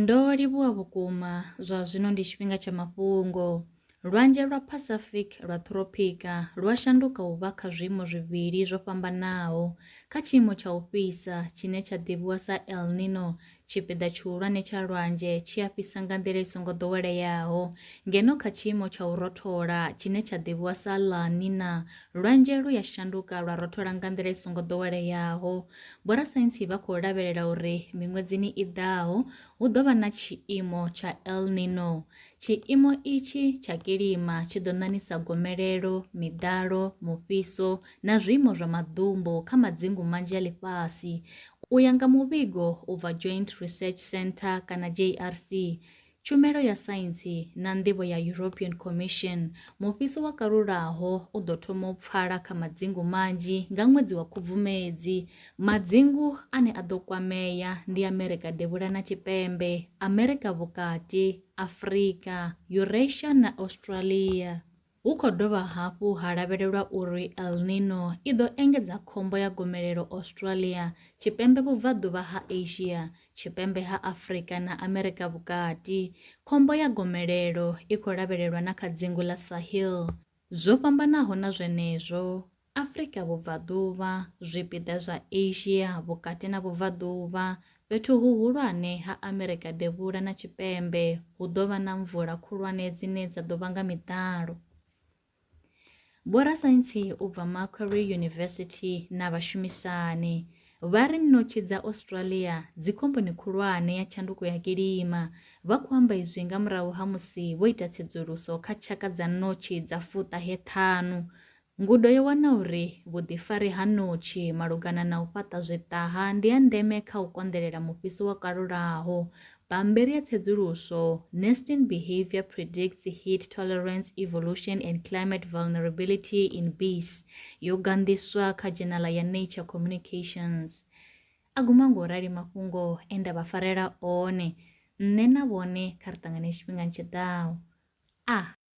Ndo livhuwa vhukuma, zwa zwino ndi tshifhinga tsha mafhungo. Lwanzhe lwa Pacific lwa Ṱhuropika lwa shanduka u vha kha zwiimo zwivhili zwo fhambanaho kha tshiimo tsha u fhisa tshine tsha ḓivhiwa sa El Niño, tshipiḓa tshihulwane tsha lwanzhe tshi a fhisa nga nḓila i songo ḓoweleaho, ngeno kha tshiimo tsha u rothola tshine tsha ḓivhiwa sa La Niña, lwanzhe lu ya shanduka lwa rothola nga nḓila i songo ḓoweleaho. Vhorasaintsi vha khou lavhelela uri miṅwedzini i ḓaho hu ḓo vha na tshiimo tsha El Nino. Tshiimo itshi tsha kilima tshi ḓo ṋaṋisa gomelelo, miḓalo, mufhiso na zwiimo zwa maḓumbu kha madzingu manzhi a ḽifhasi. U ya nga muvhigo u bva Joint Research Centre kana JRC, Tshumelo ya Saintsi na Nḓivho ya European Commission, mufhiso wa kalulaho u ḓo thoma u pfala kha madzingu manzhi nga ṅwedzi wa Khubvumedzi. Madzingu ane a ḓo kwamea ndi Amerika Devhula na Tshipembe, Amerika Vhukati, Afrika, Eurasia na Australia. Hu khou dovha hafhu ha lavhelelwa uri El Niño i ḓo engedza khombo ya gomelelo Australia, Tshipembe Vhubvaḓuvha ha Asia, Tshipembe ha Afrika na Amerika Vhukati. Khombo ya gomelelo i khou lavhelelwa na kha dzingu ḽa Sahel. Zwo fhambanaho na zwenezwo, Afrika Vhubvaḓuvha, zwipiḓa zwa Asia Vhukati na Vhubvaḓuvha, fhethu huhulwane ha Amerika Devhula na Tshipembe hu ḓo vha na mvula khulwane dzine dza ḓo vhanga miḓalo. Vhorasaintsi u bva Macquarie University na vhashumisani vha ri ṋotshi dza Australia dzi khomboni khulwane ya tshanduko ya kilima. Vha khou amba izwi nga murahu ha musi vho ita tsedzuluso kha tshaka dza ṋotshi dza fuṱahe ṱhanu Ngudo yo wana uri vhuḓifari ha ṋotshi malugana na u fhaṱa zwiṱaha ndi ha ndeme kha u konḓelela mufhiso wo kalulaho. Bammbiri ya tsedzuluso, Nesting Behaviour Predicts Heat Tolerance Evolution and Climate Vulnerability in Bees, yo ganḓiswa kha dzhenala ya Nature Communications. A guma ngo rali mafhungo e nda vha farela one, nṋe na vhone kha ri ṱangane tshifhingani tshi ḓaho. A.